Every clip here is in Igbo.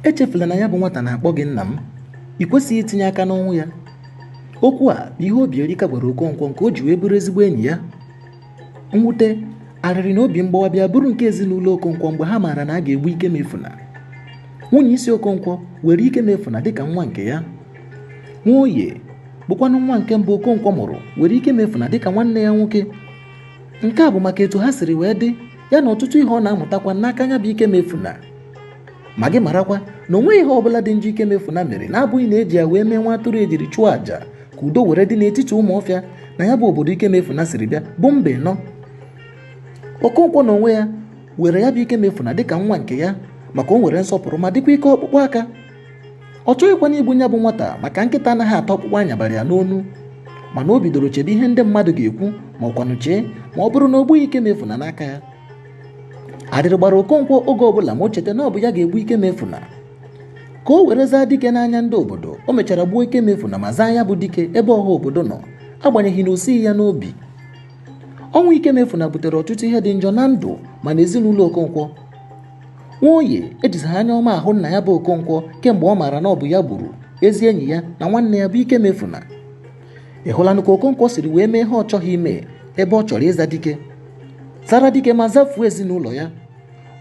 echefula na ya bụ nwata na-akpọ gị nna m ị kwesịghị itinye aka n'ọnwụ ya okwu a bụ ihe Obierika gwara Okonkwo nke o ji wee bụrụ ezigbo enyi ya mwute arịrị na obi mgbawa bịa bụrụ nke ezinụlọ Okonkwo mgbe ha maara na a ga-egbu Ikemefuna nwunye isi Okonkwo were Ikemefuna dịka nwa nke ya Nwoye bụkwanụ nwa nke mbụ Okonkwo mụrụ were Ikemefuna dịka nwanne ya nwoke nke a bụ maka etu ha siri wee dị ya na ọtụtụ ihe ọ na-amụtakwa n'aka nya bụ Ikemefuna ma gị marakwa na o nweghị ihe ọbụla dị njọ Ikemefuna mere na-abụghị na eji ya wee mee nwa atụrụ ejiri chụọ àjà ka udo were dị n'etiti Ụmụọfịa na ya bụ obodo Ikemefuna siri bịa bụ Mbaino okonkwo na onwe ya were ya bụ Ikemefuna dịka nwa nke ya maka o nwere nsọpụrụ ma dịkwa ike ọkpụkpụ aka ọ chọghịkwanụ igbu nya bụ nwata maka nkịta anaghị ata ọkpụkpụ a nyabara ya n'onu mana o bidoro chebe ihe ndị mmadụ ga-ekwu ma ọkwanụ chee ma ọ bụrụ na o gbughị Ikemefuna n'aka ya arịrị gbara okonkwo oge ọbụla ma o cheta na ọ bụ ya ga-egbu Ikemefuna ka o were zaa dike n'anya ndị obodo o mechara gbuo Ikemefuna ma zaa ya bụ dike ebe ọha obodo nọ agbanyeghị na o sighi ya n'obi ọnwụ Ikemefuna butere ọtụtụ ihe dị njọ na ndụ ma na ezinụlọ okonkwo Nwoye ejizighị anya ọma ahụ nna ya bụ Okonkwo kemgbe ọ maara na ọ bụ ya gburu ezi enyi ya na nwanne ya bụ Ikemefuna ị hụlanụ ka Okonkwo siri wee mee ihe ọ chọghị ime ebe ọ chọrọ ịza dike zara dike ma zafuo ezinụlọ ya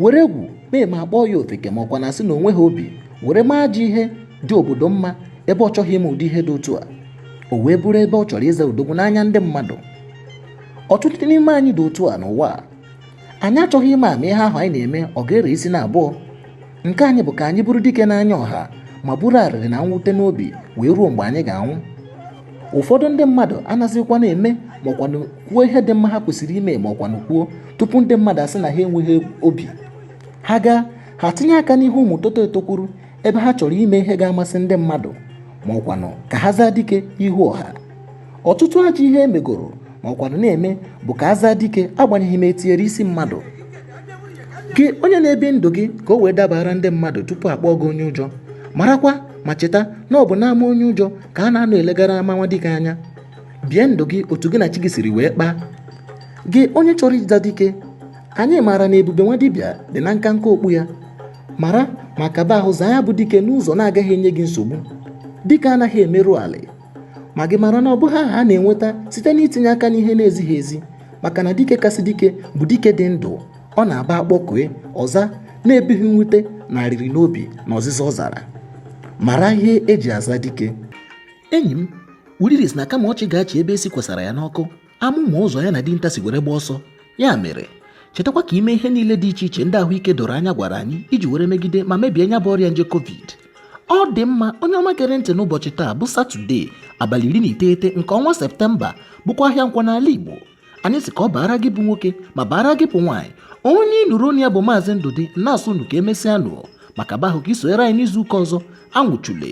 were egwu mee ma a kpọọ ya ofeke ma ọkwanụ a sị na o nweghị obi were mee ajọ ihe dị obodo mma ebe ọ chọghị ime ụdị ihe dị otu a o wee bụrụ ebe ọ chọrọ ịza odogwu n'anya ndị mmadụ ọtụtụ n'ime anyị dị otu a n'ụwa a anyị achọghị ịma ama ihe ahụ anyị na-eme ọ ga-ere isi na abụọ nke anyị bụ ka anyị bụrụ dike n'anya ọha ma buru arịrị na mwute n'obi wee ruo mgbe anyị ga-anwụ ụfọdụ ndị mmadụ anaghịzikwa na-eme maọkwanụ kwuo ihe dị mma ha kwesịrị ime maọkwanụ kwuo tupu ndị mmadụ asị na ha enweghị obi ha gaa ha tinye aka n'ihe ụmụ toto etokwuru ebe ha chọrọ ime ihe ga-amasị ndị mmadụ maọkwanụ ka ha zaa dike ihu ọha ọtụtụ ajọ ihe e megoro ma ọkwanụ na-eme bụ ka a zaa dike agbanyeghị ma etinyere isi mmadụ gị onye na-ebi ndụ gị ka o wee dabara ndị mmadụ tupu akpọọ gị onye ụjọ marakwa ma cheta na ọ bụ n'ama onye ụjọ ka a na-anọ elegara ama nwa dike anya bie ndụ gị otu gị na chi gị siri wee kpaa gị onye chọrọ ịza dike anyị maara na ebube nwa dibịa dị na nkanka okpu ya mara ma kaba ahụ zaa ya bụ dike n'ụzọ na-agaghị enye gị nsogbu dike anaghị emerụ ala ma gị mara na ọ bụghị aha a na-enweta site n'itinye aka n'ihe na-ezighị ezi maka na dike kasị dike bụ dike dị ndụ ọ na-abụ a kpọkue ọ za na-ebughị mwute na arịrị n'obi na ọzịza ọ zara mara ihe eji aza dike enyi m ulili sị na kama ọchị ga-achị ebe e si kwesara ya n'ọkụ anụ ma ụzọ ya na dinta si were gba ọsọ ya mere chetakwa ka i mee ihe niile dị iche iche ndị ahụike doro anya gwara anyị iji were megide ma mebie nya bụ ọrịa nje covid ọ dị mma onye ọma gere ntị n'ụbọchị taa bụ satọde abalị iri na iteghete nke ọnwa septemba bụkwa ahịa nkwọ n'ala igbo anyị sị ka ọ baara gị bụ nwoke ma baara gị bụ nwaanyị onye ị nụrụ onu ya bụ maazị ndụdị na-asị unu ka emesịa nụ maka bahụ ka i sonyere anyị n'izu ụka ọzọ anwụchule